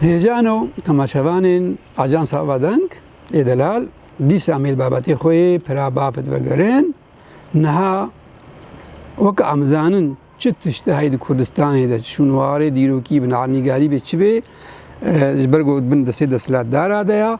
Hêjano temaşevanên Ajansa Avadeng ê delal dîsa mêl babetê xwe yê pira bafet vegerin. Niha weke em zanin çi tişt di heyî di Kurdistanê de çi şûnwarê dîrokî bi navnîgarî bê çi bê ji ber ku bin di sê desthilatdara de ya.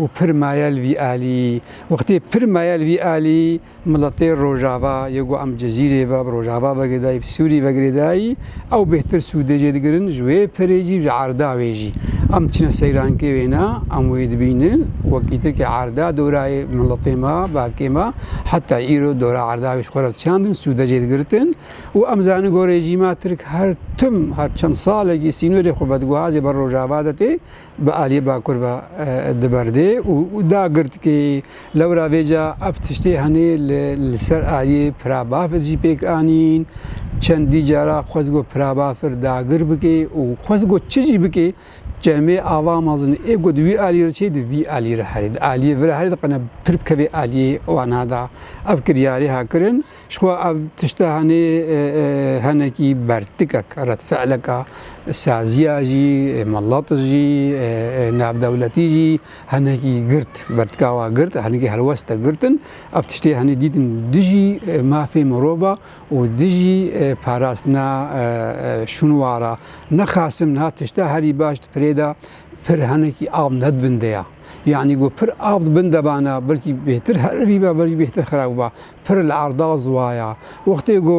û pir maye li vî alî. Wextê pir maye li vî alî miletê Rojava yê ku em Cezîrê ve bi Rojava vegirê dayî bi Sûrî vegirê dayî ew bêhtir sûdê jê digirin ji wê pirê jî ji erda wê jî. Em diçine seyrankê wêne em wê dibînin wekî tirkê erda dorayê miletê me bavkê me heta îro dora erda wê ji xwe re diçandin sûde jê digirtin û em zanin ku rejîma tirk her tim her çend salekî sînorê xwe vediguhazê ber Rojava de tê bi aliyê Bakur ve diberdê û da girtîkê. Lewra vê ca ev tiştê henê li ser aliyê Pira Bafir jî pêk anîn. Çendî cara xwest got Pira Bafir dagir bike û xwest got çi jî bike Cemê ava mezin ê got wî aliyê re çê di vî aliyê re herê di aliyê vire herê di qine pir bikevê aliyê wan ha da. Ev kiryarê ha kirin. Jixwe ev tişte henê henekî bertikek red fiileka saziya jî milet jî navdewletî jî henekî girt bertika wa girt henekî helweste girtin ev tiştê henê dîtin dijî mafê mirova û dijî parastina şûnwara nexasim niha tişte herî baş di pirê de pir henekî av nedibindeya. Yani go pir av bin debana belkî bêtir heribî be belkî bêtir xirab ba. Pir li erda ziwaya. Wextê ku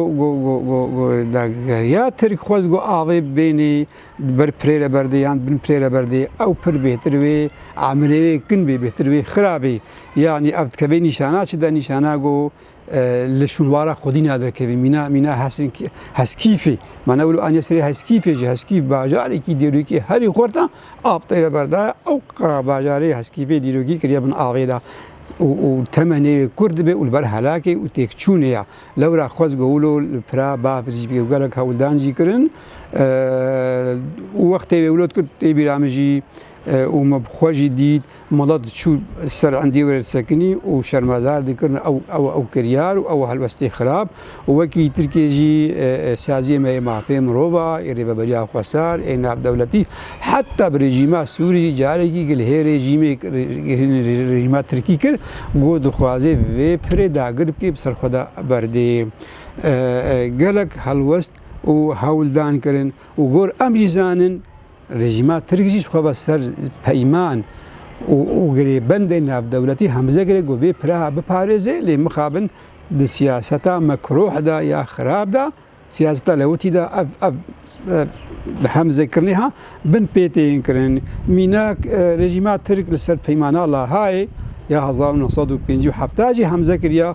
dageriya Tirk xwest ku avê bibênê di ber pirê re berdê yan di bin pirê re berdê, ew pir bêhtir wê emirê wê kin bê, bêhtir wê xira bê. Yanî ev dikevê nîşana çi de? Nîşana ku li şûnwara xwedî na derkevî. Mîna mîna Heskîfê. Ma ne wilo aniye serê Heskîfê jî. Heskîf bajarekî dêrokî herî xurt e. Av tê li berdayê ew qira bajarê heskî vê dîrokî kiriye bin avê de û û teme nêrê kur dibe û li ber helakê û têkçûnê ye. Lewra xwez Gowulo li pira bafir jî bike û gelek hewldan jî kirin û wextê wê wilo dikin tê bîra min jî û min bi xwe jî dît. Mala diçû ser endiyê were disekinî û şermezar dikirin ew ew ew kiryar û ew helwestê xirab û wekî Tirkiyê jî saziyê me ê mafê mirova, ê rêveberiya xweser, ê navdewletî heta bi rejîma Sûrî jî carekî gil hê rejîmêk rejîma Tirkî kir ku dixwaze vê pirê dagir bike bi ser xwe de berdê. Gelek helwest û hewldan kirin û gor em jî zanin, Rejîma Tirk jî ji xwe ve ser peyman û girêbendên navdewletî hemze kiriye ku vê piraha biparêze lê mixabin di siyaseta mekruh de ya xirab de, siyaseta lewitî de ev ev hemzekirinê ha bin pê tê yên kirin. Mînak rejîma Tirk li ser peymana Lahayê ya hezar û neh sed û pêncî û hefta jî hemze kiriye.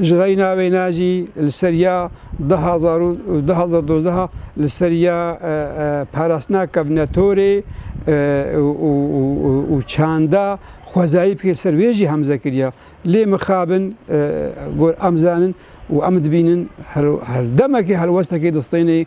Ji xeyna wê ne jî li ser ya du hezar û du hezar û dozdeh li ser ya parastina kevnetorê û çanda xwezayî bike li ser wê jî hemze kiriye. Lê mixabin gor em zanin û em dibînin herdemekê helwestekê distêne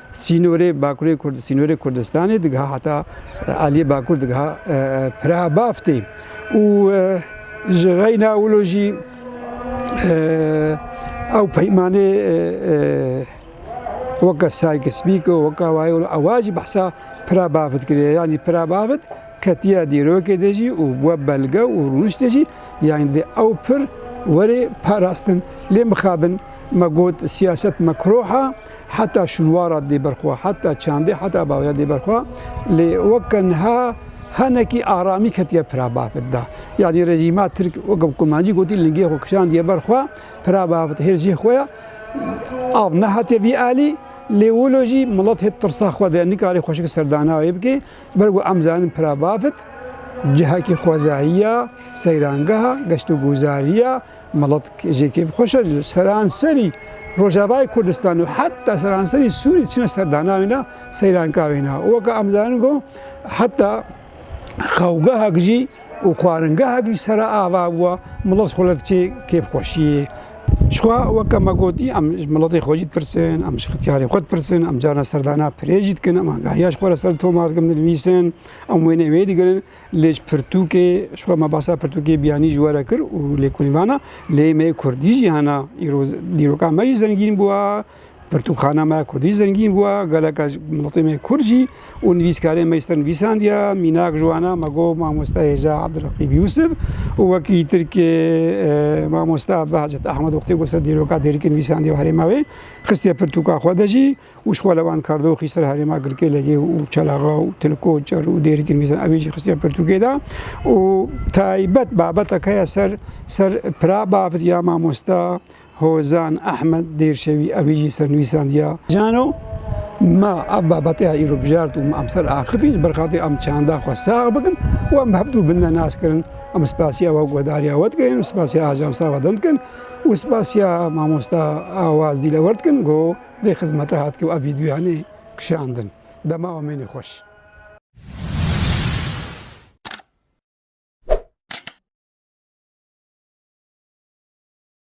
Sînorê Bakurê Kurd Sînorê Kurdistanê digiha heta Aliyê Bakur digiha Piraha Baftê û ji xeyna wilo jî ew peymanê weke Sykes Picot weke wayê wilo ewa jî behsa Piraha Baft kiriye yanî Piraha Baft ketiye dîrokê de jî û bûye belge û rûniştê jî yanî divê ew pir were parastin. Lê mixabin me got siyaset mekroh a. Heta şûnwara dê ber xwe, heta çandê, heta bawya dê ber xwe. Lê weke niha hinekî aramî ketiye pira bavit de. Yanî rejîma Tirk weke bi kumancî gotî lingê xwe kişandiye ber xwe, pira bavit hêr jê xwe ye. Av nehatiye vî alî, lê wilo jî milet hê tirsa xwe de ye, nikarê xweşik serdana wê bike. Ber ku em zanin pira bavit cihekî xwezayî ye, seyrangeha, geştûguzarî ye. Meletk jê kêfxweş e li seranserî Rojavayê Kurdistanê û heta seranserî Sûriyê çine serdana wê ne, seyranka wê ne. Weke em dizanin ku heta xewgehek jî û xwaringehek jî sera ava bûye, milet xwe li diçe kêfxweşiyê. Jixwe weke me gotî em ji miletê xwe jî dipirsin, em ji xityarê xwe dipirsin, em carna serdana pirê jî dikin, em agahiya ji xwe re ser toma dikin, dinivîsin, em wêneyê wê digrin. Lê ji pirtûkê, ji xwe me basa pirtûkê biyanî ji we re kir û lêkolîn vana, lê me kurdî jî hene, îro dîroka me jî zengîn bûye, pirtûkxana me ya kurdî jî zengîn bûye, geleka miletê me kurd jî û nivîskarên me jî ser nivîsandiye, mînak ji wan e, me got mamoste hêja Abdulreqîb Yûsif û wekî tirkê mamoste Behcet Ehmed wextê ku ser dîroka Dêrikê nivîsandiye û herêma wê xistiye pirtûka xwe de jî. û ji xwe li van kardoxî ser herêma Girkêlegê û Çelaxa û Tilko, Çer û Dêrî Girmîzan ev ê jî xistiye pirtûkê de û taybet babetek heye ser ser pira bavit ya mamosta Hozan Ehmed Dêrşevî ew ê jî sernivîsandiya Cano ma ev babet ya îro bijart û ma em ser axivîn ji ber xatirê em çanda xwe sax bikin û em bi hev dû binde nas kirin. Em spasiya we guhdarîya we dikin û spasiya ajansa we din dikin û spasiya mamosta Awaz Dîlewer dikin ku Vê xizmete hat kir û ev vîdyoyanê kişandin. Dema û mênê xweş.